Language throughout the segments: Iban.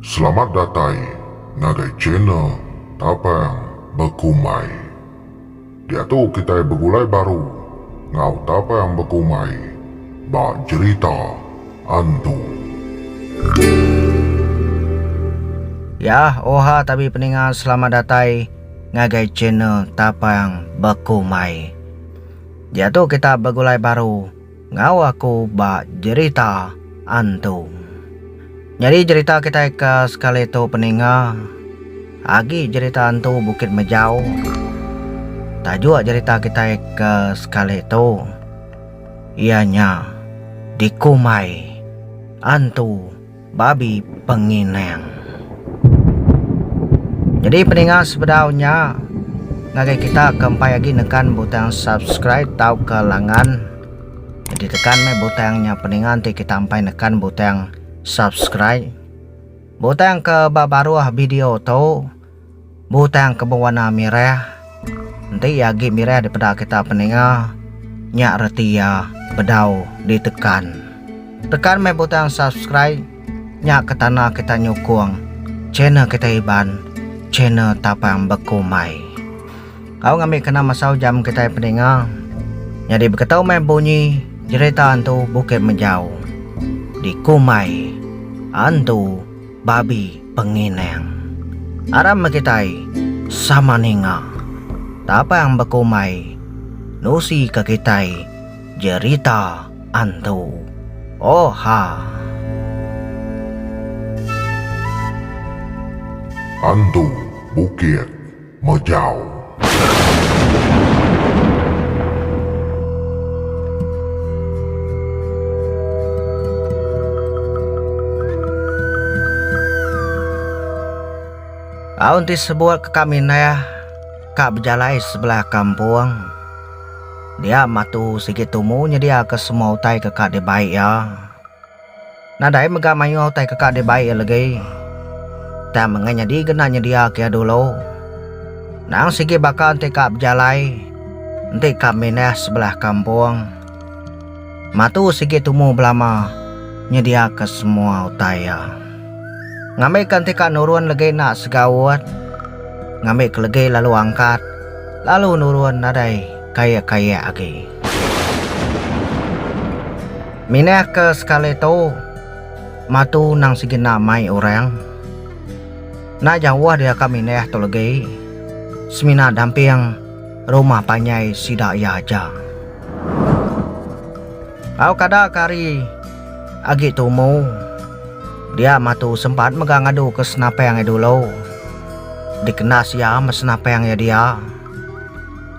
Selamat datai ngagai channel Tapang Bekumai. Diatu kitai begulai baru enggau Tapang Bekumai ba jerita antu. Yah oha tabi peninga selamat datai. ngagai channel Tapang Bekumai. Diatu kita begulai baru enggau aku ba jerita antu. Nyadi jerita kitai ke sekali tu peninga agi jerita antu Bukit Mejau. Tajuk jerita kitai ke sekali tu iya nya Dikumai Antu. Babi Penginang. Jadi peninga sebedau nya ngagai kita ke empai agi nekan butang subscribe tauka langan. Jadi tekan meh butang nya peninga enti kita empai nekan butang subscribe. Butang ke ba baruh video tu Butang ke bewarna mirah. Enti iya agi mirah dipeda kita peninga, nya reti iya bedau ditekan. Tekan meh butang subscribe, nya ke tanda kita nyukung channel kita Iban, channel Tapang Bekumbai. Enggau ngambi kena masa ujam kitai peninga, nyadi beketu meh bunyi jerita Entu Bukit Mejau di Kumbai Entu. Babi penginang. Aram meh kitai sama ninga. Tapang bekumbai nusi ke kitai jerita antu. Oha. Antu Bukit. Majau. Aun ti sebuat ke kami neh ka bejalai sebelah kampung. Dia matu sigi tumu nyediaka semua utai ke ka dibai iya. Nadai mega mayuh utai keka dibai iya legi. Tang mega nyadi kena nyediaka iya dulu. Nang sigi baka enti ka bejalai, enti ka mindah sebelah kampung. Matu sigi tumu belama nyediaka semua utai iya. Ngambika enti ka nurun legi enda segaut, ngambika legi lalu angkat, lalu nurun nadai. kaya-kaya agi. Minah ke sekali tu matu nang sigi enda mai orang. Enda jauh dia ka minah tu legi semina damping rumah panjai sida iya aja. Au kada ka hari agi tumu dia matu sempat mega ngadu ke senapang iya dulu dikena sia me senapang iya dia.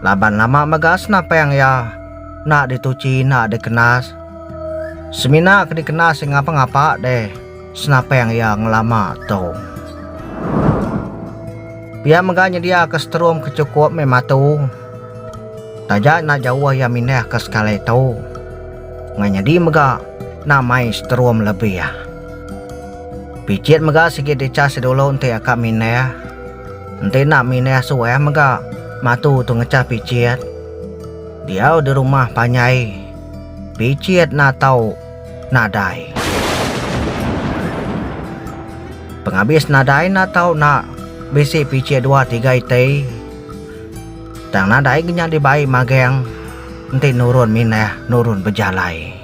Laban lama mega senapang iya enda dituchi enda dikenas. Semina ke dikenas iya ngapa-ngapa deh senapang iya ngelama tu. Pia mega nyediaka seterum ke chukup meh matu. Taja enda jauh iya mindahka sekali tu. Ngai nyadi mega enda mai seterum lebih. Pichin mega sigi dichas dulu enti iya ka mindah. Enti enda minah suah mega matu tu ngechah pichit. Diau di rumah panjai pichit enda tau nadai. Pengabis nadai enda tau nak bisi pichit dua tiga iti. Tang nadai ke nyadi bai magang enti nurun minah nurun bejalai.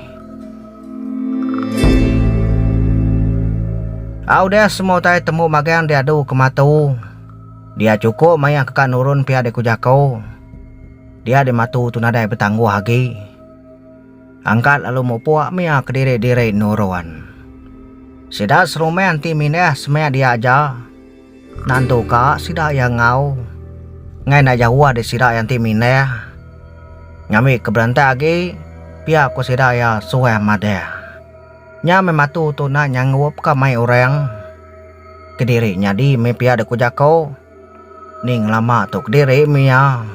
Au deh semua utai temu magang diadu ke matu. Dia chukup mayah ke ka nurun pia di ku jako. Dia di matu tu nadai betangguh agi. Angkat lalu mupuk mia kediri diri nurun. Sida serumah enti mindah semia dia aja. Nantu ka sida iya enggau ngai enda jauh ari sida iya enti mindah ngambi ke berantak agi pia ku sida iya suah madah. Nya meh matu tu nah nyanggup ka mai orang kediri nyadi meh pia deka ku jako ni ngelama tu kediri meh iya.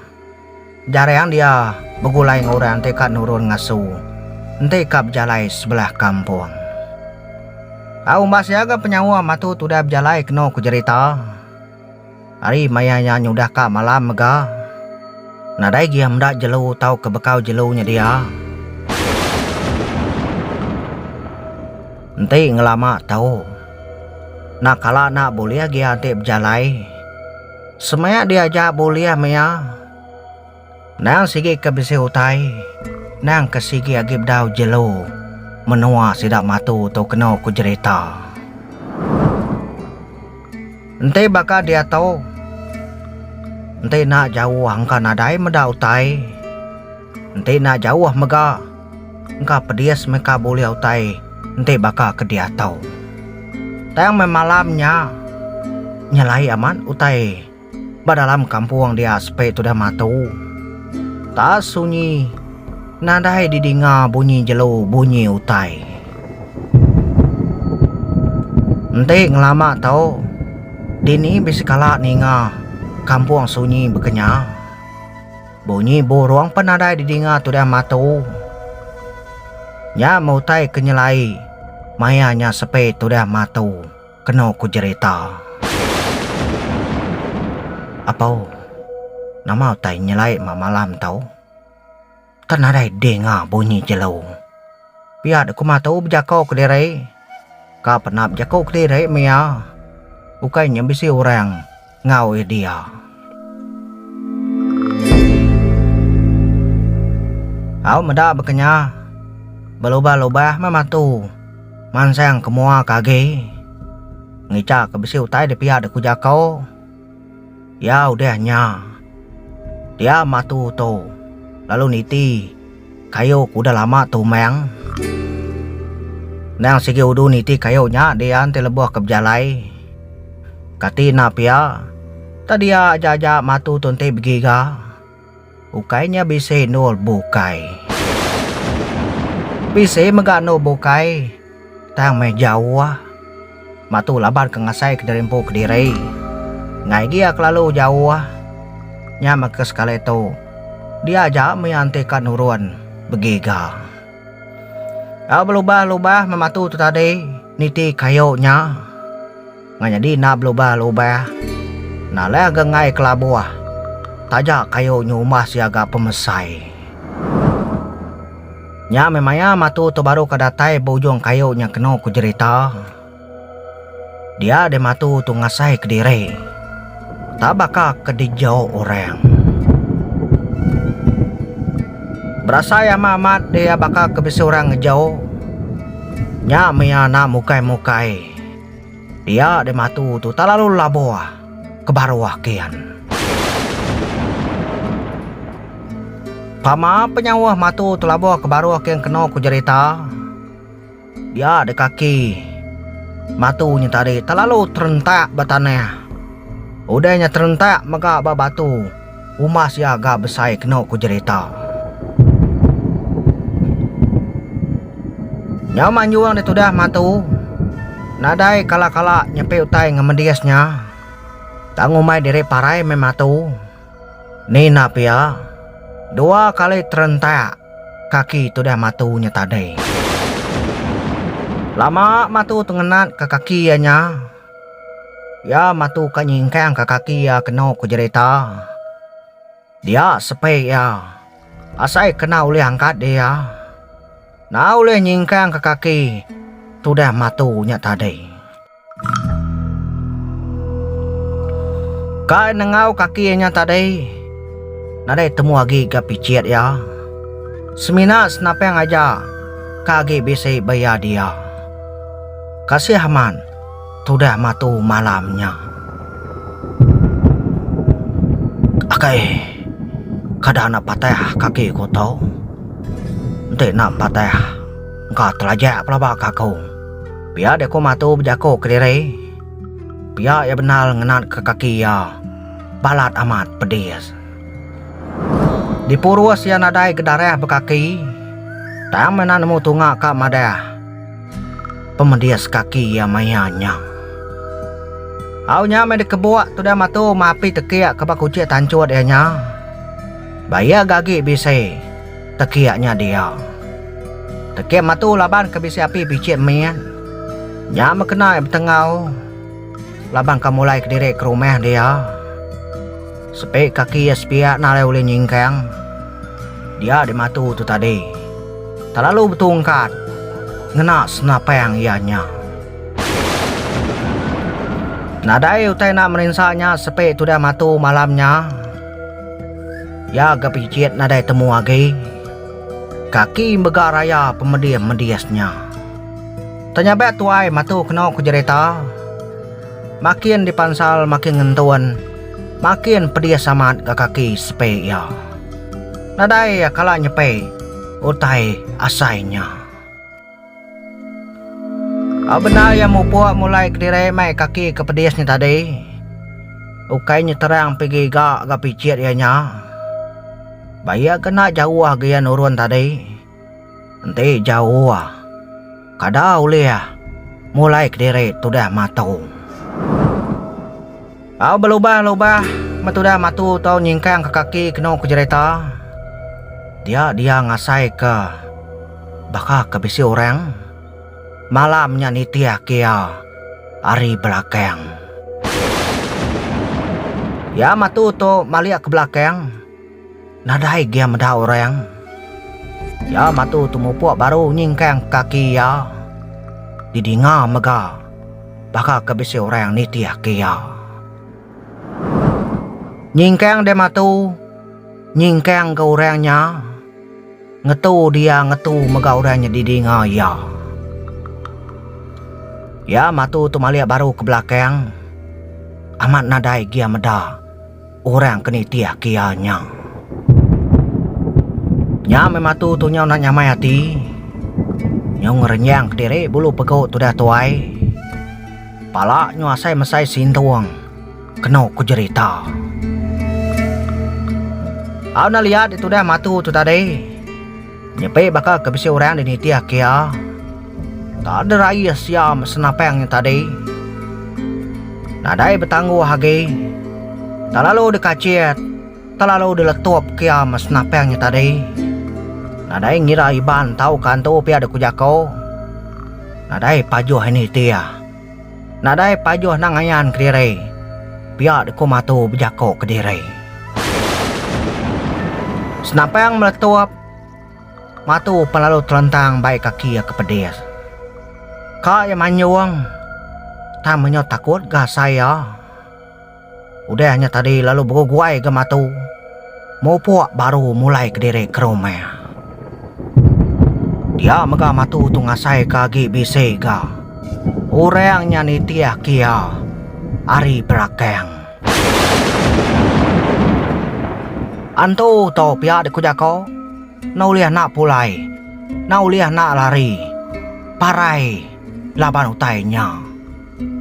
Jarang dia begulai enggau orang ti ka nurun ngasu enti ka bejalai sebelah kampung. Tau umbas iya ga penyawa matu tudah bejalai kenu ku jerita ari maya iya nyudah ka malam mega nadai gih meda jelu tauka bekau jelu nyedia enti ngelama tau. Nak kala enda bulih agi iya enti bejalai. Semaya diaja bulih mia endang sigi ke bisi utai endang ke sigi agi bedau jelu menua sida Matu tu keno ku jerita. Enti baka diatu enti enda jauh angka nadai meda utai enti enda jauh mega. Engka pedis meh ka bulih utai enti baka ke diatu. Tang meh malam nya nyelai amat utai ba dalam kampung dia sepe tudah matu. Taap sunyi nadai didinga bunyi jelu bunyi utai. Enti ngelama tu dini be sekala ninga kampung sunyi bekenyah. Bunyi burung pen nadai didinga Tudah Matu. Nya meh utai ke nyelai maya nya sepe Tudah Matu kenu ku jerita. Apo, nama utai nyelai ma malam tu? Tan nadai dinga bunyi jelu. Pia deh ku Matu bejako kediri. Ka penap jaku kediri meh iya. Ukai nya bisi orang. enggau Idea. Au meda bekenya, belubah-lubah meh mantu mansang ke mua ke agi ngicha ke bisi utai de pia de ku jako iya udah nya dia mantu tu lalu niti. Kayu ke udah lama tumang. Endang sigi udu niti kayu nya dian ti lebuh ke bejalai. Kati enda pia, tadiya aja aja matu tu enti begiga. Ukai nya bisi endur bukai. Bisi mega endur bukai tang meh jauh. Mak tu laban ke ngasai kediri empu kediri. Enggai agi iya kelalu jauh. Nya meh ke sekali tu dia aja mih anti ka nurun begiga. Au belubah-lubah mematu tu tadi niti kayu nya. Ngan nyadi enda belubah-lubah. Enda leh ga enggai kelabuh. Taja kayu nyumbah sia ga pemesai. Nya meh maya matu tu baru ka datai ba ujung kayu nya kenu ku jerita. Dia deh matu tu ngasai kediri. Tah baka ke dijau orang. Berasa iya meh amat deh iya baka ke bisi orang ngejau. Nya meh iya enda mukai-mukai. Dia deh matu tu telalu labuh. ke baru akian. Pama penyauh matu telabuh ke baru akian keno ku jerita, dia deka aki matu nya tadi telalu terentak ba tanah. Udah nya terentak mega ba batu. Umah sia ga besai kenu ku jerita. Nyau manjung dia tudah mantu nadai kala-kala nyepi utai ngemedis nya. Tang umai diri parai meh mantu. Nina pia, dua kali terentak kaki tudah mantu nya tadi. Lama mantu tu ngenat ka kaki iya nya. Iya matuka nyingkangka kaki iya kenu ku jerita. Dia sepe iya, asai kena ulih angkat diri iya. Na ulih nyingkangka kaki tudah matu nya tadi. Kai nengau kaki iya nya tadi, nadai temu agi ga pichit iya. Semina senapang aja ka agi bisi ba iya dia. Kasih amat. Tudah matu malam nya. Akai kada anak patah kaki ku tu. Enti nak patah engka telajak pelaba ka aku. Pia deh ku matu bejaku kediri. Pia iya bendar ngenat ka kaki iya balat amat pedis. Dipurus iya nadai ke darah ba kaki tang meh nak nemu tunga ka madah. Pemedis kaki iya maya nya. Au nya meh dikebuk tudah matu mapi tekiak ke ba kuchik tanchut iya nya. Ba iya gagi bisi tekiak nya dia. Tekik matu laban ke bisi api bichit min. Nya meh kena iya betengau laban ke mulai kediri ke rumah dia. Sepi kaki iya sepiak enda alai ulih nyingkang dia dimatu tu tadi. Telalu betungkat ngena senapang iya nya. Nadai utai enda merinsa nya sepi tudah matu malam nya. Iya ga pijit nadai temu agi. Kaki mega raya pemedis-medis nya. Tanya ba tuai matu keno ku jerita. Makin dipansal makin ngentun. Makin pedis amat ga kaki sepe iya. Nadai iya kala nyepe utai asai nya. Au bendar iya mupuk mulai kediri meh kaki ke pedis nya tadi. Ukai nyeterang pigi ga ga picit iya nya. Ba iya kena jauh agi iya nurun tadi. Enti jauh ah. Kada ulih ah. Mulai kediri tudah matu. Au belubah-lubah me tudah matu tau nyingkang ke kaki kenu ke jereta. Dia dia ngasai ke baka ke bisi orang. Malam nya nitih agi iya ari belakang. Iya matu tu malik ke belakang. Nadai gia meda orang. Iya matu temupuk baru nyingkang kaki iya. Didinga mega baka ke bisi orang nitihka iya. Nyingkang deh matu, nyingkang ke orang nya. Ngetu dia ngetu mega orang nya didinga iya. Iya matu temalik baru ke belakang. Amat nadai gia meda. Orang ke nitih aki iya nya. Nya meh matu tu nyau nak nyamai ati. Nyau ngerenyang kediri bulu pegu tudah tuai. Pala nyau asai mesai sintung kenu ku jerita. Au na liat ditudah matu tu tadi. Nyepi baka ke bisi orang di nitih kia, Takde raie siam senapang nya tadi. Nadai betangguh agi. Telalu dikachit, telalu diletup kiam senapang nya tadi. Nadai ngira Iban tauka antu pia deka jaku. Nadai pajuh ini tia. Nadai pajuh endang ayan kediri. Pia deka matu bejako kediri. Senampang meletup matu pan lalu telentang bai kaki iya ke pedis. Ka iya manjung tang menyau takut ga asai iya. Udah nya tadi lalu beguai ga matu. Mupuk baru mulai kediri ke rumah. Dia mega matu tu ngasai ka agi bisi ga. Orang nya nitih ke iya ari belakang. Antu to pia dek ku jako. Enda ulih enda pulai. Enda ulih enda lari. Parai laban utai nya.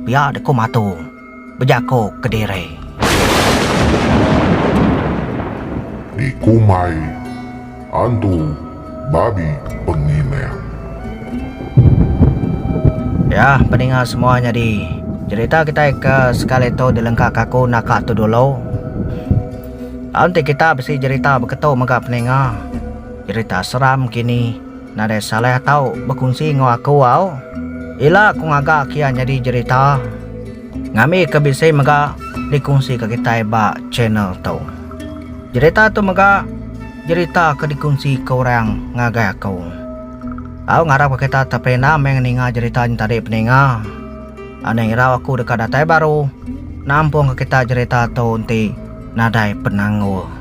Pia dek ku matu. Bejako kediri. Dikumbai antu babi pengilang. Yah peninga semua nyadi. Jerita kitai ke sekali tu dilengkaka aku naka tu dulu. Lalu enti kita bisi jerita beketu mega peninga. Jerita seram kini. Nadai salah tau bekunsi enggau aku au. Ila ku ngaga ke iya nyadi jerita ngambi ke bisi mega dikunsi ke kitai ba channel tu. Jerita tu mega jerita ke dikunsi ke orang ngagai aku. Au ngarap ke kita teperinda meh ngeninga jerita nya tadi peninga. Anih irau aku deka datai baru nampung ke kita jerita tu enti nadai penanggul.